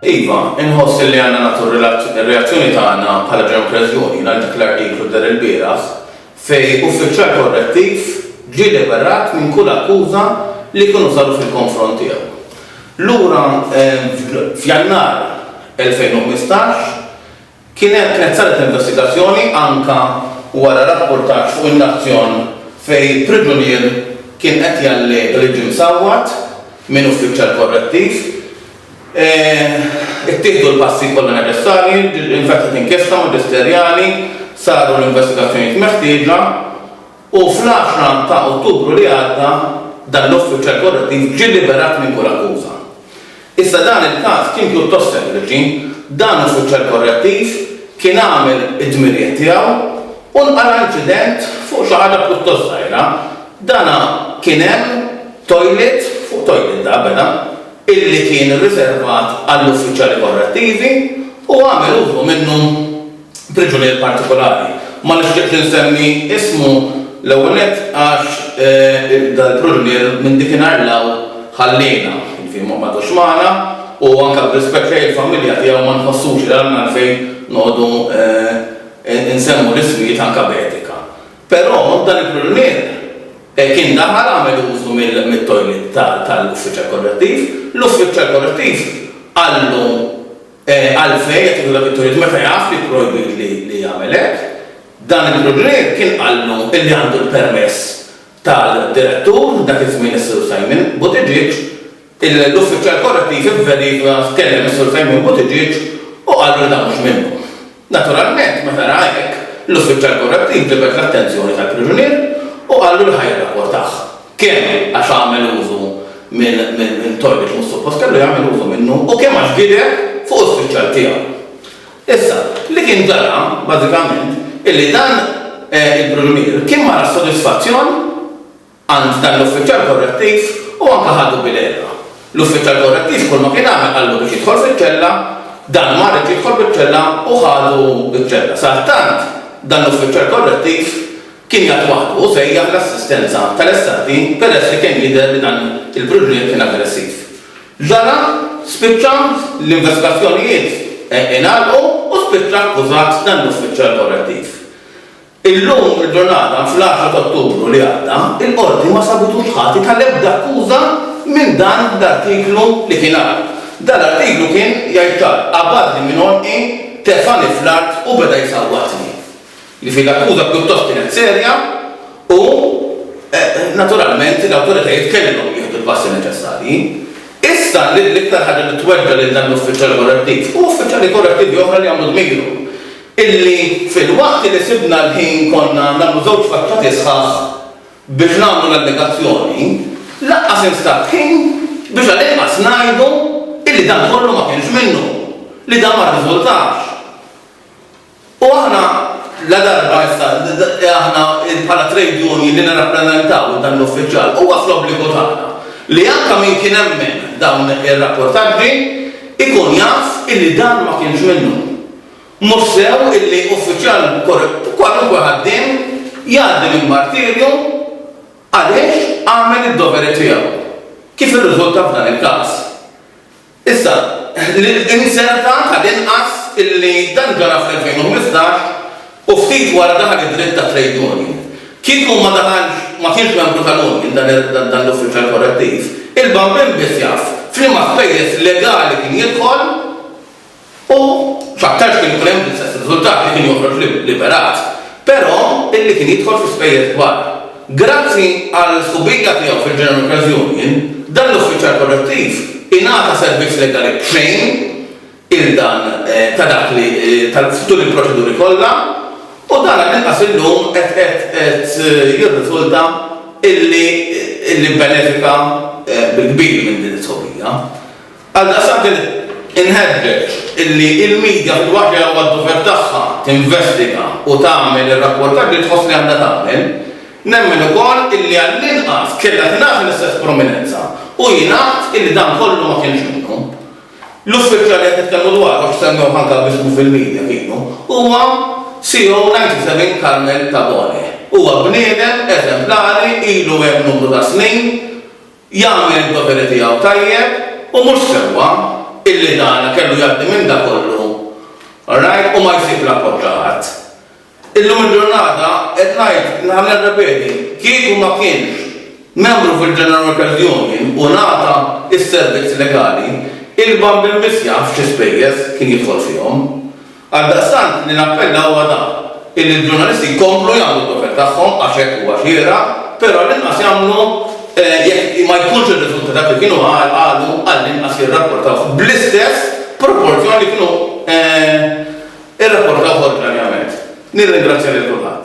Iva, inħoss illi għandna nagħtu r-reazzjoni tagħna bħala Ġew Preżuni għal dak l-artiklu dar ilbieraħ fejn uffiċjal korrettiv ġie liberat minn kull akkuża li jkunu saru fil-konfront tiegħu. Lura f'Jannar 2015, Kien hemm kienet saret investigazzjoni anke wara rappurtaġġ fuq in-Nazzjon fejn priġunier kien qed jallega li ġie msawwat minn uffiċjal korrettiv. Ittieħdu l-passi kollha neċessarji, infetħet inkjesta maġisterjali, saru l-investigazzjonijiet meħtieġa. u fl-għaxra ta' Ottubru li għadda dan l-uffiċjal korrettiv ġie liberat minn kull akkuża. Iżda dan il-każ kien pjuttost sempliċi, dan uffiċjal korrettiv kien għamel id-dmirijiet tiegħu u nqala' inċident fuq xi ħaġa pjuttost żgħira, dana kien hemm toilet fuq toilet da beda illi kien riservat għall-uffiċjali korrettivi u għamel użu minnu. priġunier partikolari. Ma nixtieqx li nsemmi ismu, l-ewwel nett għax dal-priġunier minn dikinhar 'l hawn ħalliena, jiġifieri m'għadux magħna u anke b'rispett lejn il-familja tiegħu ma nħossux li għandna għalfejn noqogħdu nsemmu l-ismijiet anke b'etika. Però dan il-priġunier kien daħal għamel użu mit-toilet tal-uffiċjal korrettiv, l-uffiċjal korrettiv qallu Għalfejn qed jieħu dak it-turiet meta jaf li projbit li jagħmel hekk? Dan il-Brunglier kien qallu li għandu l-permess tal-Direttur, dak iż-żmien is-Sur Simon Buttigieg, l-uffiċjal korrettiv ivverifika, tkellem is-Sur Simon Buttigieg u qallu li dan mhux minnu. Naturalment, meta ra hekk, l-uffiċjal korrett inġibed l-attenzjoni tal-priġunier u qallu li ħa jirrapportah, kemm għax għamel użu minn togħġ li mhux suppost kellu jagħmel użu minnu u kemm għax gideb fuq uffiċjal tiegħu. Issa, li kien ġara, bażikament, illi dan il-priġunier kien mara s-sodisfazzjon għand dan l-uffiċjal korrettiv u anke ħadu bil-għerqa. L-uffiċjal korrettiv kull ma kien għamel qallu biex jidħol fiċ-ċella, dan ma riedx jidħol fiċ-ċella u ħadu ċ-ċella. Sadattant, dan l-uffiċjal korrettiv kien jgħadd waħdu u sejjaħ l-assistenza tal-SAT peress li kien jidher li dan il-priġunier kien aggressiv. Ġara, spiċċa, l-investigazzjonijiet ingħalqu u spiċċa akkużat dan l-uffiċjal korrettiv. Illum il-ġurnata, fl-għaxar ta' Ottubru li għadda, il-Qorti ma sabitux ħati tal-ebda akkuża minn dan l-artiklu li kien hawn. Dan l-artiklu kien jgħid ċar, Abażi minn għonqi tefgħani fl-art u beda jsawwatni. Jiġifieri l-akkuża pjuttost kienet serja u naturalment l-awtoritajiet kellhom jieħdu l-passi neċessarji. Issa l-iktar ħaġa li tweġġa' lil dan l-uffiċjali korrettiv hu uffiċjali korrettivi oħra li għamlu dmirhom. illi filwaqt li sibna l-ħin konna nagħmlu żewġ faċċati sħaħ biex nagħmlu l-allegazzjoni, lanqas instab ħin biex għall-inqas ngħidu illi dan kollu ma kienx minnu, li dan ma rriżultax. U aħna ladarba issa aħna bħala trade union li nirrappreżentaw dan l-uffiċjal huwa fl-obbligu tagħna li anke min kien hemmen dawn ir-rapportaġġi jkun jaf illi dan ma kienx minnu. Mhux sew illi uffiċjal kwalunkwe ħaddiem jgħaddi minn martirju għaliex għamel id-doveri tiegħu, kif irriżulta f'dan il-każ. Issa, inzerta tal-inqas illi dan ġara fl-2015 u ftit wara daħal id-dritt tat-trade union. Kieku ma daħalx, ma kienx membru tal-union dan l-uffiċjal korrettiv, il-bambin biss jaf f'liema spejjeż legali kien jidħol, U f'aktarx kien ikun hemm l-istess riżultat li kien joħroġ liberat, però illi kien jidħol fi spejjeż kbar. Grazzi għal sħubija tiegħu fil-General Credit Union, dan l-uffiċjal korrettiv ingħata servizz legali b'xejn il dan ta' dak li tal f'tul il-proċeduri kollha, u dan għall-inqas illum qed qed qed jirriżulta illi illi bbenefika bil-kbir minn din is-sħubija. Għaldaqstant inħeġġeġ illi il-media fil waqt li huwa d-dover tagħha tinvestiga u tagħmel ir-rapportaġġ li tħoss li għandha tagħmel, nemmen ukoll illi għall-inqas kellha tingħata l-istess prominenza u jingħad illi dan kollu ma kienx minnu. L-uffiċjal li qed nitkellmu dwaru għax semmewh anke b'ismu fil-media kienu huwa CO97 Carmel Tabone. Huwa bniedem eżemplari ilu hemm numru ta' snin jagħmel id-doveri tiegħu tajjeb u mhux sewwa, illi dana kellu jgħaddi minn dak kollu, alright, u ma jsib l-appoġġ ta' ħadd. Illum il-ġurnata, qed ngħid, naħa nirrepeti, kieku ma kienx membru fil-General Workers Union u ngħata s-servizz legali, il-Bamb il-Miss jaf xi spejjeż kien jidħol fihom. Għaldaqstant li nappella huwa dan, illi l-ġurnalisti jkomplu jagħmlu d-dover tagħhom għax hekk huwa xieraq, però għall-inqas jagħmlu, jekk ma jkunx irriżulta dak li kienu qalu, għall-inqas jirrapportawh bl-istess proporzjon li kienu rrapportawh oriġinarjament. Nirringrazzja lil kulħadd.